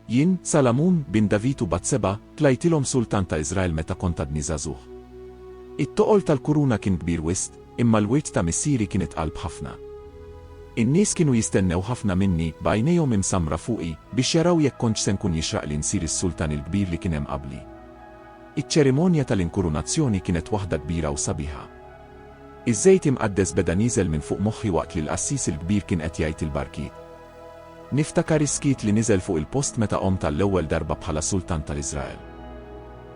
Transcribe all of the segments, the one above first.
Jien, Salamun, bin David u Batseba, tlajtilhom sultan ta' Iżrael meta kont għadni żagħżugħ. It-toqol tal-kuruna kien kbir wisq, imma l-wirt ta' missieri kien itqal b'ħafna. In-nies kienu jistennew ħafna minni, b'għajnejhom imsammra fuqi, biex jaraw jekk kontx se nkun jixraqli nsir is-sultan il-kbir li kien hemm qabli. Iċ-ċerimonja tal-inkurunazzjoni kienet waħda kbira u sabiħa. Iż-żejt imqaddes beda nieżel minn fuq moħħi waqt li l-qassis il-kbir kien qed jgħid il-barkiet. Niftakar is-skiet li niżel fuq il-post meta qomt għall-ewwel darba bħala sultan tal-Iżrael.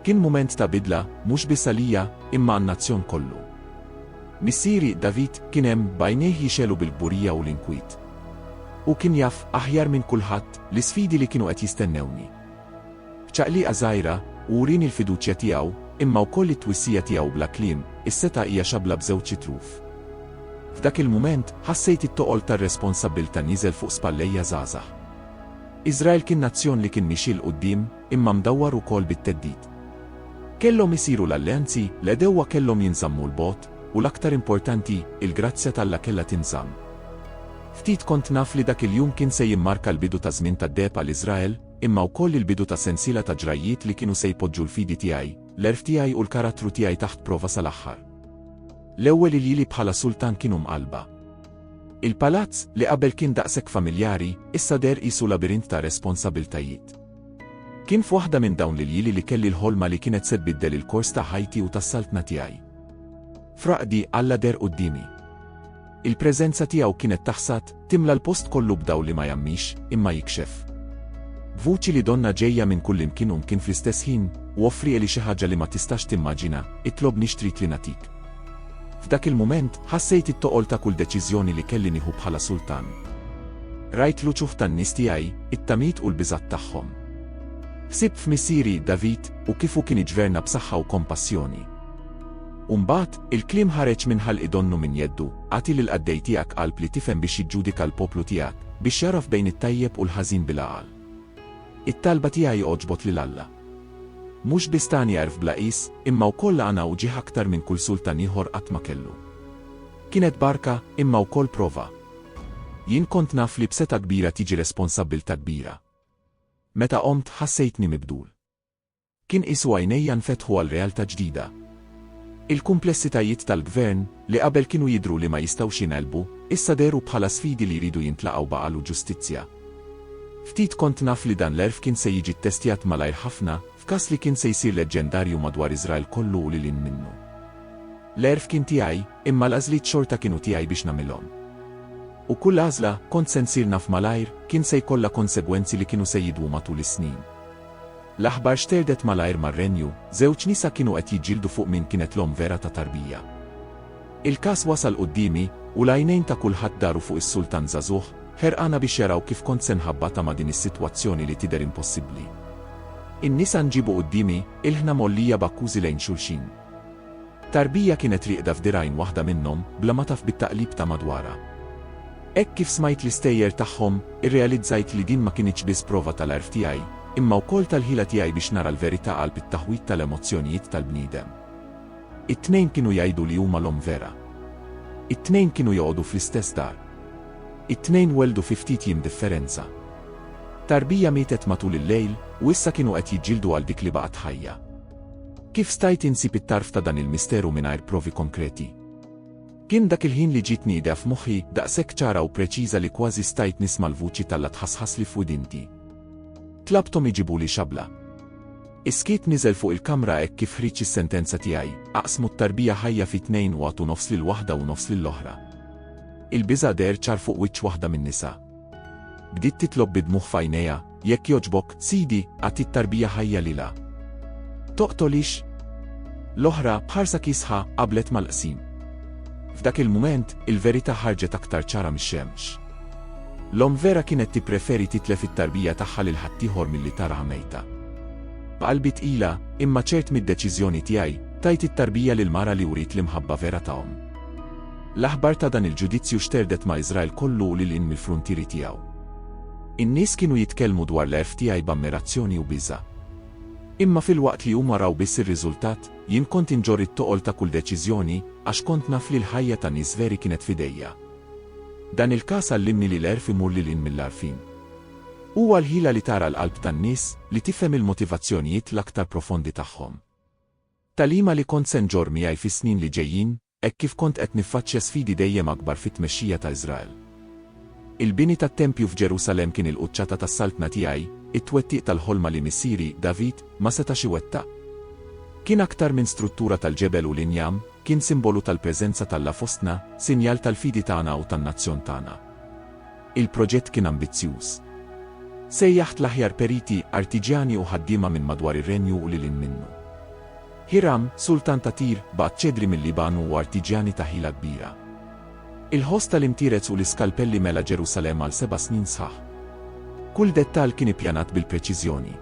Kien mument ta' bidla, mhux biss għalija, imma għan-nazzjon kollu. Missieri, David, kien hemm, b'għajnejh jixegħlu bil-kburija u l-inkwit. Hu kien jaf, aħjar minn kulħadd, l-isfidi li kienu qed jistennewni. F'ċaqliqa żgħira, hu wrieni l-fiduċja tiegħu, imma wkoll it-twissija tiegħu bla kliem, Is-setgħa hija xabla b'żewġ xitruf. F'dak il-mument, ħassejt it-toqol tar-responsabbiltà nieżel fuq spallejja żgħażagħ. Iżrael kien nazzjon li kien miexi 'l quddiem, imma mdawwar ukoll bit-theddid. Kellhom isiru l-alleanzi, l-għedewwa kellhom jinżammu 'l bogħod. U l-aktar importanti, il-grazzja t'Alla kellha tinżamm. Ftit kont naf li dak il-jum kien se jimmarka l-bidu ta' żmien tad-deheb għal Iżrael, imma wkoll il-bidu ta' sensiela ta' ġrajjiet li kienu se jpoġġu l-fidi tiegħi, l-għerf tiegħi u l-karattru tiegħi taħt prova sal-aħħar. L-ewwel iljili bħala sultan kienu mqallba. Il-palazz, li qabel kien daqshekk familjari, issa deher qisu labirint ta' responsabbiltajiet. Kien f'waħda minn dawn l-iljili li kelli l-ħolma li kienet se tbiddel il-kors ta' ħajti u tas-saltna tiegħi. F'raqdi, Alla deher quddiemi. Il-preżenza tiegħu kienet taħsad, timla l-post kollu b'dawl li ma jgħammix, imma jikxef. B'vuċi li donnha ġejja minn kullimkien u mkien fl-istess ħin, u offri Eli xi ħaġa li ma tistax timmaġina, itlobni x'trid li nagħtik. F'dak il-mument, ħassejt it-toqol ta' kull deċiżjoni li kelli nieħu bħala sultan. Rajt l-uċuħ tan-nies tiegħi, it-tamiet u l-biżgħat tagħhom. Ħsibt f'missieri, David, u kif hu kien iġverna b'saħħa u kompassjoni. U mbagħad, il-kliem ħareġ minn ħalqi donnu minn jeddu, Agħti lill-qaddej tiegħek qalb li tifhem biex jiġġudika l-poplu tiegħek, biex jagħraf bejn it-tajjeb u l-ħażin bil-għaqal. It-talba tiegħi għoġbot lil Alla. Mhux biss tani għerf bla qies, imma wkoll għana u ġieħ aktar minn kull sultan ieħor qatt ma kellu. Kienet barka, imma wkoll prova. Jien kont naf li b'setgħa kbira tiġi responsabbiltà kbira. Meta qomt, ħassejtni mibdul. Kien qisu għajnejja nfetħu għal realtà ġdida. Il-kumplessitajiet tal-gvern, li qabel kienu jidhru li ma jistgħux jingħelbu, issa dehru bħala sfidi li jridu jintlaqgħu b'għaqal u ġustizzja. Ftit kont naf li dan l-għerf kien se jiġi ttestjat malajr ħafna, f'każ li kien se jsir leġġendarju madwar Iżrael kollu u lil hinn minnu. L-għerf kien tiegħi, imma l-għażliet xorta kienu tiegħi biex nagħmilhom. U kull għażla, kont se nsir naf malajr, kien se jkollha konsegwenzi li kienu se jidwu matul is-snin. L-aħbar xterdet malajr mar-Renju, żewġ nisa kienu qed jiġġieldu fuq min kienet l-omm vera ta' tarbija. Il-każ wasal quddiemi, u l-għajnejn ta' kulħadd daru fuq is-sultan żagħżugħ, ħerqana biex jaraw kif kont se nħabbatha ma' din is-sitwazzjoni li tidher impossibbli. In-nisa nġiebu quddiemi, ilħna mgħollija b'akkużi lejn xulxin. Tarbija kienet rieqda f'dirgħajn waħda minnhom bla ma taf bit-taqlib ta' madwarha. Hekk kif smajt l-istejjer tagħhom, irrealizzajt li din ma kinitx biss prova tal-għerf tiegħi, imma wkoll tal-ħila tiegħi biex nara l-verità qalb it-taħwid tal-emozzjonijiet tal-bniedem. It-tnejn kienu jgħidu li huma l-omm vera. It-tnejn kienu joqogħdu fl-istess dar. It-tnejn welldu fi ftit jiem differenza. Tarbija mietet matul il-lejl, u issa kienu qed jiġġieldu għal dik li baqgħet ħajja. Kif stajt insib it-tarf ta' dan il-misteru mingħajr provi konkreti? Kien dak il-ħin li ġiet nida f'moħħi, daqshekk ċara u preċiża li kważi stajt nisma' l-vuċi t'Alla tħassħasli f'widinti. Tlabthom iġibuli xabla. Is-skiet niżel fuq il-kamra hekk kif ħriġt is-sentenza tiegħi, aqsmu t-tarbija ħajja fi tnejn u għatu nofs lil waħda u nofs lill-oħra. Il-biża' deher ċar fuq wiċċ waħda min-nisa. Bdiet titlob bi dmugħ f'għajnejha, Jekk jogħġbok, Sidi, agħti t-tarbija ħajja lilha. Toqtolhiex! L-oħra, b'ħarsa kiesħa, qablet mal-qsim. F'dak il-mument, il-verità ħarġet aktar ċara mix-xemx. L-omm vera kienet tippreferi titlef it-tarbija tagħha lil ħaddieħor milli taraha mejta. B'qalbi tqila, imma ċert mid-deċiżjoni tiegħi, tajt it-tarbija lill-mara li wriet l-imħabba vera ta' omm. L-aħbar ta' dan il-ġudizzju xterdet ma' Iżrael kollu u lil hinn mill-fruntieri tiegħu. In-nies kienu jitkellmu dwar l-għerf tiegħi b'ammirazzjoni u biża'. Imma filwaqt li huma raw biss ir-riżultat, jien kont inġorr it-toqol ta' kull deċiżjoni, għax kont naf li l-ħajja ta' nies veri kienet f'idejja. Dan il-każ għallimni li l-għerf imur lil hinn mill-għarfien. Huwa l-ħila li tara l-qalb tan-nies, li tifhem il-motivazzjonijiet l-aktar profondi tagħhom. Tagħlima li kont se nġorr miegħi fis-snin li ġejjin? Hekk kif kont qed niffaċċja sfidi dejjem akbar fit-tmexxija ta' Iżrael. Il-bini tat-tempju f'Ġerusalemm kien il-quċċata tas-saltna tiegħi, it-twettiq tal-ħolma li missieri, David, ma setax iwettaq. Kien aktar minn struttura tal-ġebel u l-injam, kien simbolu tal-preżenza t'Alla fostna, sinjal tal-fidi tagħna u tan-nazzjon tagħna. Il-proġett kien ambizzjuż. Sejjaħt l-aħjar periti, artiġjani u ħaddiema minn madwar ir-Renju u lil hinn minnu. Hiram, sultan ta' Tir, bagħat ċedri mil-Liban u artiġjani ta' ħila kbira. Il-ħoss tal-imtierez u l-iskalpelli mela Ġerusalemm għal seba' snin sħaħ. Kull dettall kien ippjanat bil-preċiżjoni.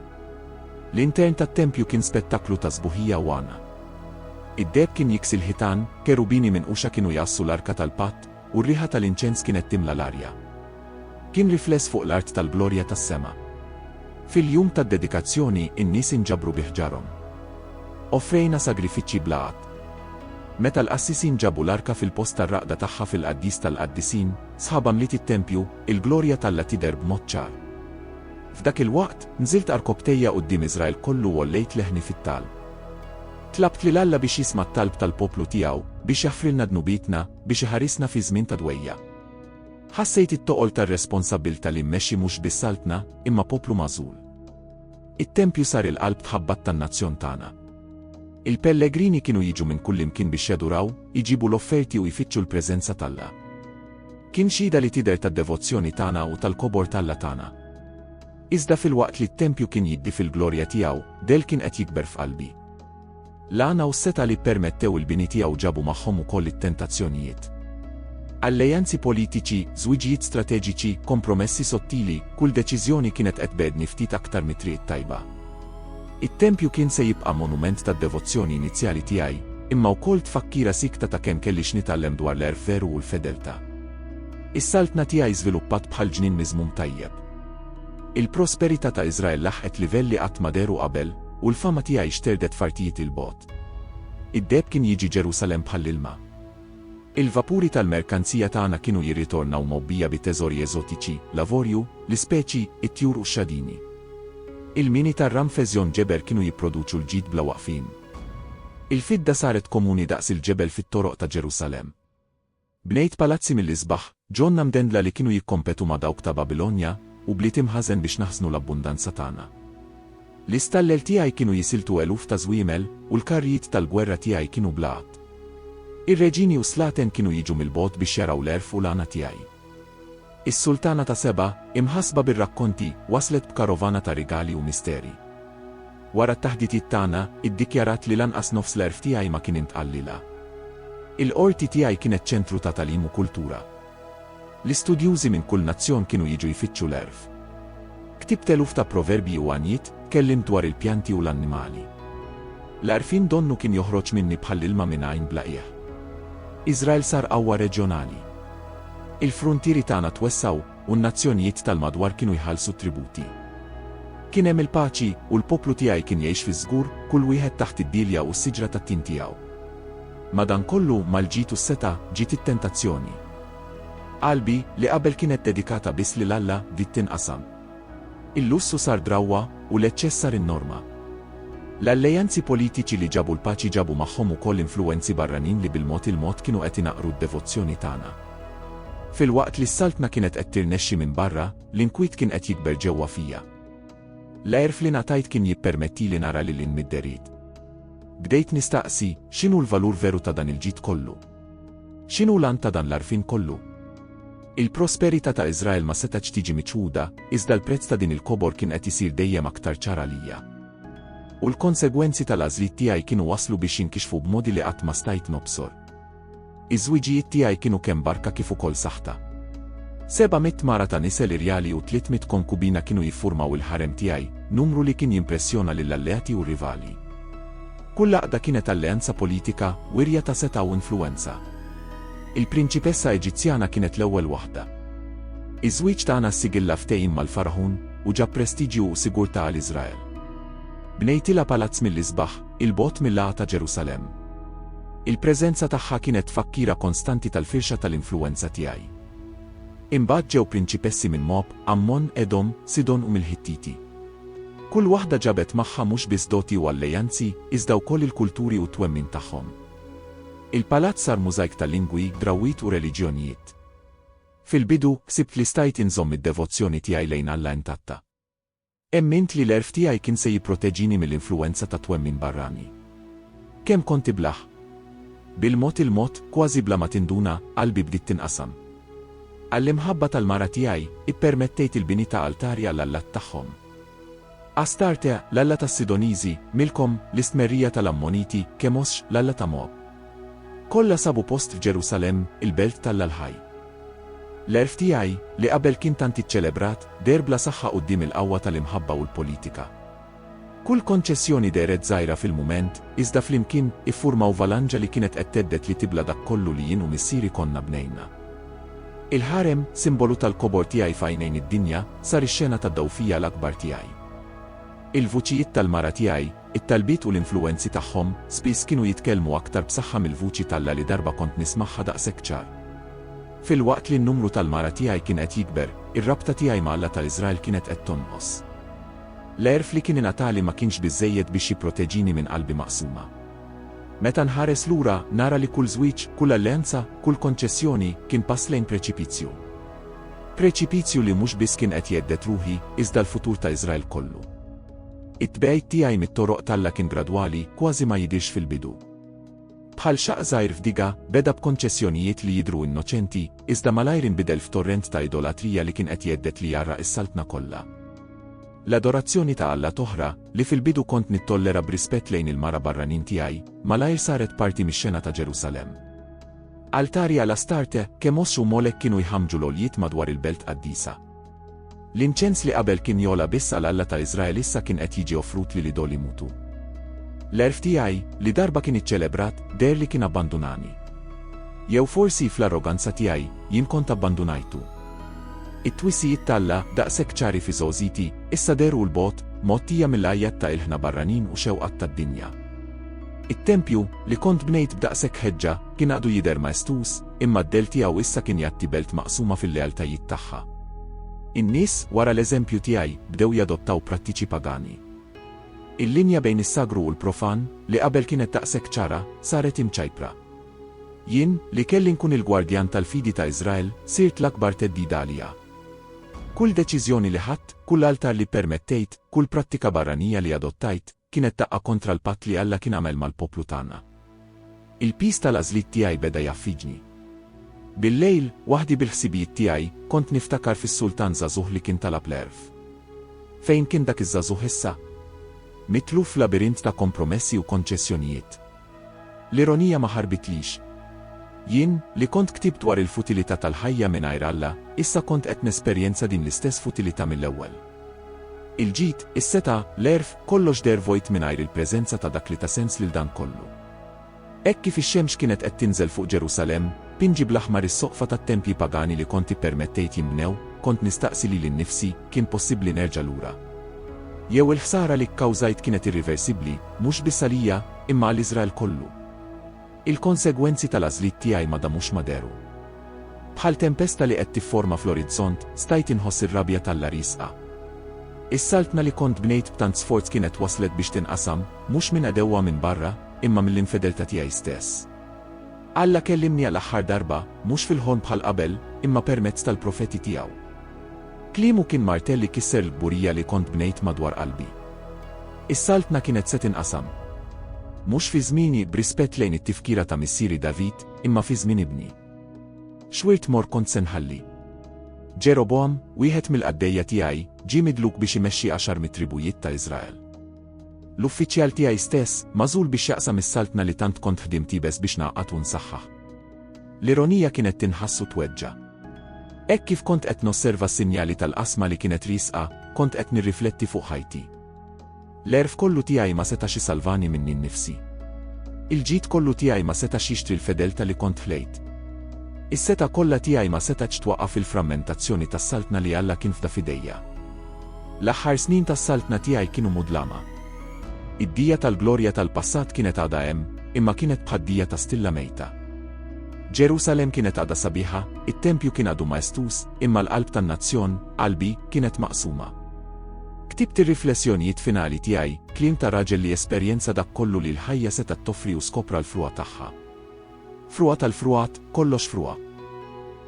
L-intern tat-tempju kien spettaklu ta' sbuħija u għana. Id-deheb kien jiksi l-ħitan, kerubini minquxa kienu jgħassu l-Arka tal-Patt, u r-riħa tal-inċens kienet timla l-arja. Kien rifless fuq l-art tal-glorja tas-sema. Fil-jum tad-dedikazzjoni, in-nies inġabru bi ħġarhom. Offrejna sagrifiċċji bla għadd. Meta l-qassisin ġabu l-arka fil-post tar-raqda tagħha fil-Qaddis tal-Qaddisin, sħabha mliet it-tempju, il-glorja t'Alla tidher b'mod ċar. F'dak il-waqt, nżilt għarkopptejja quddiem Iżrael kollu u għollejt leħni fit-talb. Tlabt lil Alla biex jisma' t-talb tal-poplu tiegħu, biex jaħfrilna dnubietna, biex iħarisna fi żmien ta' dwejjaq. Ħassejt it-toqol tar-responsabbiltà li mmexxi mhux biss saltna, imma poplu magħżul. It-tempju sar il-qalb tħabbat tan-nazzjon tagħna. Il-pellegrini kienu jiġu minn kullimkien biex jaduraw, iġibu l-offerti u jfittxu l-preżenza t'Alla. Kien xhieda li tidher tad-devozzjoni tagħna u tal-kobor t'Alla tagħna. Iżda filwaqt li t-tempju kien jiddi fil-glorja tiegħu, dell kien qed jikber f'qalbi. L-għana u s-setgħa li ppermettew il-bini tiegħu ġabu magħhom ukoll it-tentazzjonijiet. Allejanzi politiċi, żwiġijiet strateġiċi, kompromessi sottili, kull deċiżjoni kienet qed tbegħdni ftit aktar mit-triq it-tajba. It-tempju kien se jibqa' monument tad-devozzjoni inizjali tiegħi, imma wkoll tfakkira siekta ta' kemm kelli x'nitgħallem dwar l-għerf veru u l-fedeltà. Is-saltna tiegħi żviluppat bħal ġnien miżmum tajjeb. Il-prosperità ta' Iżrael laħqet livell li qatt ma dehru qabel, u l-fama tiegħi xterdet f'artijiet 'il bogħod. Id-deheb kien jiġi Ġerusalemm bħall-ilma. Il-vapuri tal-merkanzija tagħna kienu jirritornaw mgħobbija bi teżori eżotiċi, l-avorju, l-ispeċi, it-tjur u x-xadini. Il-mini tar-Ramfes Jon Geber kienu jipproduċu l-ġid bla waqfien. Il-fidda saret komuni daqs il-ġebel fit-toroq ta' Ġerusalemm. Bnejt palazzi mill-isbaħ, ġonna mdendla li kienu jikkompetu ma' dawk ta' Babilonja, u bliet imħażen biex naħżnu l-abbundanza tagħna. L-istallel tiegħi kienu jisiltu eluf ta' żwiemel, u l-karrijiet tal-gwerra tiegħi kienu bla għadd. Ir-reġini u s-slaten kienu jiġu mill-bogħod biex jaraw l-għerf u l-għana tiegħi. Is-Sultana ta' Seba, imħassba bir-rakkonti, waslet b'karovana ta' rigali u misteri. Wara t-taħditiet tagħna, iddikjarat li lanqas nofs l-għerf tiegħi ma kien intqal lilha. Il-qorti tiegħi kienet ċentru ta' tagħlim u kultura. L-istudjużi minn kull nazzjon kienu jiġu jfittxu l-għerf. Ktibt eluf ta' proverbji u għanjiet, tkellimt dwar il-pjanti u l-annimali. L-għarfien donnu kien joħroġ minni bħall-ilma minn għajn bla qiegħ. Iżrael sar qawwa reġjonali. Il-fruntieri tagħna twessgħu, u n-nazzjonijiet tal-madwar kienu jħallsu t-tributi. Kien hemm il-paċi, u l-poplu tiegħi kien jgħix fiż-żgur, kull wieħed taħt id-dielja u s-siġra tat-tin tiegħu. Madankollu, mal-ġid u s-setgħa, ġiet it-tentazzjoni. Qalbi, li qabel kienet dedikata biss lil Alla, bdiet tinqasam. Il-lussu sar drawwa u l-eċċess sar in-norma. L-allejanzi politiċi li ġabu l-paċi ġabu magħhom ukoll influwenzi barranin li bil-mod il-mod kienu qed inaqqru d-devozzjoni tagħna. Filwaqt li s-Saltna kienet qed tirnexxi minn barra, l-inkwiet kien qed jikber ġewwa fija. L-għerf li ngħatajt kien jippermettili nara lil hinn mid-derid. Bdejt nistaqsi, x'inhu l-valur veru ta' dan il-ġid kollu? X'inhu l-għan ta' dan l-għarfien kollu? Il-prosperità ta' Iżrael ma setgħetx tiġi miċħuda, iżda l-prezz ta' din il-kobor kien qed isir dejjem aktar ċar għalija. U l-konsegwenzi tal-għażliet tiegħi kienu waslu biex jinkixfu b'modi li qatt ma stajt nobsor. Iż-żwiġijiet tiegħi kienu kemm barka kif ukoll saħta. Seba' mitt mara ta' nisel irjali u tliet mitt konkubina kienu jiffurmaw il-ħarem tiegħi, numru li kien jimpressjona lill-alleati u r-rivali. Kull għaqda kienet alleanza politika wirja ta' setgħa u influwenza. Il-prinċipessa Eġizzjana kienet l-ewwel waħda. Iż-żwieġ tagħna ssigilla ftehim mal-Fargħun u ġab prestiġju u sigurtà għal Iżrael. Bnejtilha palazz mill-isbaħ, 'il bogħod mill-għagħa ta' Ġerusalemm. Il-preżenza tagħha kienet tfakkira konstanti tal-firxa tal-influwenza tiegħi. Imbagħad ġew prinċipessi minn Moab, Għammon, Edom, Sidon u mill-Ħittiti. Kull waħda ġabet magħha mhux biss doti u allejanzi, iżda wkoll il-kulturi u t-twemmin tagħhom. Il-palazz sar mużajk ta' lingwi, drawwiet u reliġjonijiet. Fil-bidu, ħsibt li stajt inżomm id-devozzjoni tiegħi lejn Alla intatta. Emmint li l-għerf tiegħi kien se jipproteġini mill-influwenza ta' twemmin barrani. Kemm kont iblah! Bil-mod il-mod, kważi bla ma tinduna, qalbi bdiet tinqasam. Għall-imħabba tal-mara tiegħi, ippermettejt il-bini ta' altari għall-allat tagħhom. Astarte, l-alla tas-Sidoniżi, Milkom, l-istmerrija tal-Ammoniti, Kemosx, l-alla ta' Moab. Kollha sabu post f'Ġerusalemm, il-belt t'Alla l-ħaj. L-għerf tiegħi, li qabel kien tant iċċelebrat, deher bla saħħa quddiem il-qawwa tal-imħabba u l-politika. Kull konċessjoni dehret żgħira fil-mument, iżda flimkien, iffurmaw valanġa li kienet qed thedded li tibla' dak kollu li jien u missieri konna bnejna. Il-ħarem, simbolu tal-kobor tiegħi f'għajnejn id-dinja, sar ix-xena tad-dgħufija l-akbar tiegħi. Il-vuċijiet tal-mara tiegħi, it-talbiet u l-influwenzi tagħhom, spiss kienu jitkellmu aktar b'saħħa mill-vuċi t'Alla li darba kont nismagħha daqshekk ċar. Filwaqt li n-numru tal-mara tiegħi kien qed jikber, ir-rabta tiegħi ma' Alla ta' Iżrael kienet qed tonqos. L-għerf li kien ingħatali ma kienx biżżejjed biex jipproteġini minn qalbi maqsuma. Meta nħares lura, nara li kull żwieġ, kull alleanza, kull konċessjoni, kien pass lejn preċipizju. Preċipizju li mhux biss kien qed jhedded ruħi, iżda l-futur ta' Iżrael kollu. It-tbegħid tiegħi mit-toroq t'Alla kien gradwali, kważi ma jidhirx fil-bidu. Bħal xaqq żgħir f'diga, beda b'konċessjonijiet li jidhru innoċenti, iżda malajr inbidel f'torrent ta' idolatrija li kien qed jhedded li jgħarraq is-Saltna kollha. L-adorazzjoni ta' allat oħra, li fil-bidu kont nittollera b'rispett lejn il-mara barranin tiegħi, malajr saret parti mix-xena ta' Ġerusalemm. Altari għal Astarte, Kemos u Molek kienu jħammġu l-għoljiet madwar il-belt qaddisa. L-inċens li qabel kien jogħla biss għal Alla ta' Iżrael issa kien qed jiġi offrut lil idol imutu. L-għerf tiegħi, li darba kien iċċelebrat, deher li kien abbandunani. Jew forsi, fl-arroganza tiegħi, jien kont abbandunajtu. It-twissijiet t'Alla, daqshekk ċari fi żgħożiti, issa dehru 'l bogħod, mgħottija mill-għajjat ta' ilħna barranin u xewqat tad-dinja. It-tempju, li kont bnejt b'daqshekk ħeġġa, kien għadu jidher maestuż, imma d-dell tiegħu issa kien jgħatti belt maqsuma fil-lealtajiet tagħha. In-nies, wara l-eżempju tiegħi, bdew jadottaw prattiċi pagani. Il-linja bejn is-sagru u l-profan, li qabel kienet daqshekk ċara, saret imċajpra. Jien, li kelli nkun il-gwardjan tal-fidi ta' Iżrael, sirt l-akbar theddida għaliha. Kull deċiżjoni li ħadt, kull altar li ppermettejt, kull prattika barranija li adottajt, Kienet daqqa kontra l-patt li Alla kien għamel mal-poplu tagħna. Il-piż tal-għażliet tiegħi beda jaffiġni. Bil-lejl, waħdi bil-ħsibijiet tiegħi, kont niftakar fis-sultan żagħżugħ li kien talab l-għerf. Fejn kien dak iż-żagħżugħ issa? Mitluf f'labirint ta' kompromessi u konċessjonijiet. L-ironija ma ħarbitlix. Jien, li kont ktibt dwar il-futilità tal-ħajja mingħajr Alla, issa kont qed nesperjenza din l-istess futilità mill-ewwel. Il-ġid, is-setgħa, l-għerf, kollox deher vojt mingħajr il-preżenza ta' dak li ta sens lil dan kollu. Hekk kif ix-xemx kienet qed tinżel fuq Ġerusalemm, pinġi bl-aħmar is-soqfa tat-tempji pagani li kont ippermettejt jinbnew, kont nistaqsi lili nnifsi, kien possibbli nerġa' lura? Jew il-ħsara li kkawżajt kienet irriversibbli, mhux biss għalija, imma għal Iżrael kollu. Il-konsegwenzi tal-għażliet tiegħi ma damux ma dehru. Bħal tempesta li qed tifforma fl-orizzont, stajt inħoss ir-rabja t'Alla riesqa. Is-saltna li kont bnejt b'tant sforz kienet waslet biex tinqasam, mhux minn għadewwa minn barra, imma mill-infedeltà tiegħi stess. Alla kellimni għal aħħar darba, mhux fil-ħolm bħal qabel, imma permezz tal-profeti tiegħu. Kliemu kien martell li kisser l-kburija li kont bnejt madwar qalbi. Is-Saltna kienet se tinqasam. Mhux fi żmieni, b'rispett lejn it-tifkira ta' missieri David, imma fi żmien ibni. X'wirt morr kont se nħalli? Ġerobogħam, wieħed mill-qaddejja tiegħi, ġie midluk biex imexxi għaxar mit-tribujiet ta' Iżrael. L-uffiċjal tiegħi stess, magħżul biex jaqsam is-Saltna li tant kont ħdimt iebes biex ngħaqqad u nsaħħaħ. L-ironija kienet tinħass u tweġġa'. Hekk kif kont qed nosserva s-sinjali tal-qasma li kienet riesqa, kont qed nirrifletti fuq ħajti. L-għerf kollu tiegħi ma setax isalvani minni nnifsi. Il-ġid kollu tiegħi ma setax jixtri l-fedelta' li kont ħlejt. Is-setgħa kollha tiegħi ma setgħetx twaqqaf il-frammentazzjoni tas-saltna li Alla kien fda f'idejja. L-aħħar snin tas-saltna tiegħi kienu mudlama. Id-dija tal-glorja tal-passat kienet għadha hemm, imma kienet bħad-dija ta' stilla mejta. Ġerusalemm kienet għadha sabiħa, it-tempju kien għadu maestuż, imma l-qalb tan-nazzjon, qalbi, kienet maqsuma. Ktibt ir-riflessjonijiet finali tiegħi, kliem ta' raġel li esperjenza dak kollu li l-ħajja setgħet toffri u skopra l-frugħa tagħha. Frugħa tal-frugħat, kollox frugħa.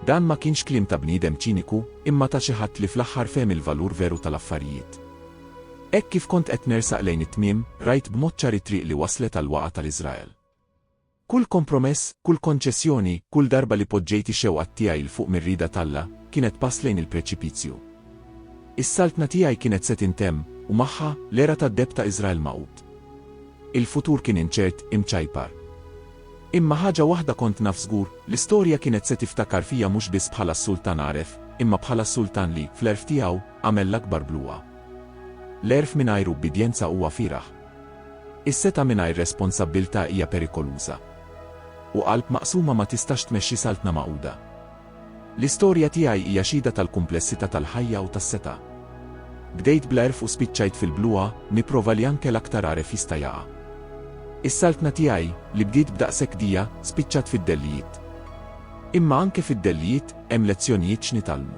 Dan ma kienx kliem ta' bniedem ċiniku, imma ta' xi ħadd li fl-aħħar fehem il-valur veru tal-affarijiet. Hekk kif kont qed nersaq lejn it-tmiem, rajt b'mod ċar it-triq li wasslet għall-waqgħa tal-Iżrael. Kull kompromess, kull konċessjoni, kull darba li poġġejt ix-xewqat tiegħi 'l fuq mir-rieda t'Alla, kienet pass lejn il-preċipizju. Is-Saltna tiegħi kienet se tintemm, u magħha, l-era tad-deheb ta' Iżrael magħqud. Il-futur kien inċert, imċajpar. Imma ħaġa waħda kont naf żgur, l-istorja kienet se tiftakar fija mhux biss bħala s-sultan għaref, imma bħala s-sultan li, fl-għerf tiegħu, Agħmel l-akbar bluha. L-għerf mingħajr ubbidjenza huwa fieragħ. Is-setgħa mingħajr responsabbiltà hija perikoluża. U qalb maqsuma ma tistax tmexxi saltna magħquda. L-istorja tiegħi hija xhieda tal-kumplessità tal-ħajja u tas-setgħa. Bdejt bl-għerf u spiċċajt fil-bluha, nipprova li anke l-aktar għaref jista' jaqa'. Is-saltna tiegħi, li bdiet b'daqshekk dija, spiċċat fid-dellijiet. Imma anke fid-dellijiet, hemm lezzjonijiet x'nitgħallmu.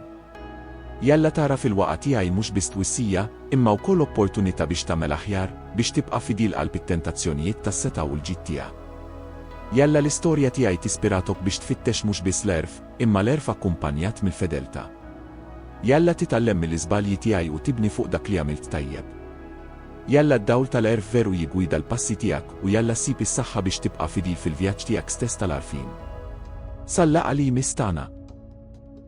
Jalla tara fil-waqgħa tiegħi mhux biss twissija, imma wkoll opportunità biex tagħmel aħjar, biex tibqa' fidil qalb it-tentazzjonijiet tas-setgħa u l-ġid tiegħu. Jalla l-istorja tiegħi tispiratok biex tfittex mhux biss l-għerf, imma l-għerf akkumpanjat mill-fedeltà. Jalla titgħallem mill-iżbalji tiegħi u tibni fuq dak li għamilt tajjeb. Jalla d-dawl tal-għerf veru jiggwida l-passi tiegħek u jalla ssib is-saħħa biex tibqa' fidil fil-vjaġġ tiegħek stess tal-għarfien. Sal-laqgħa li jmiss tagħna!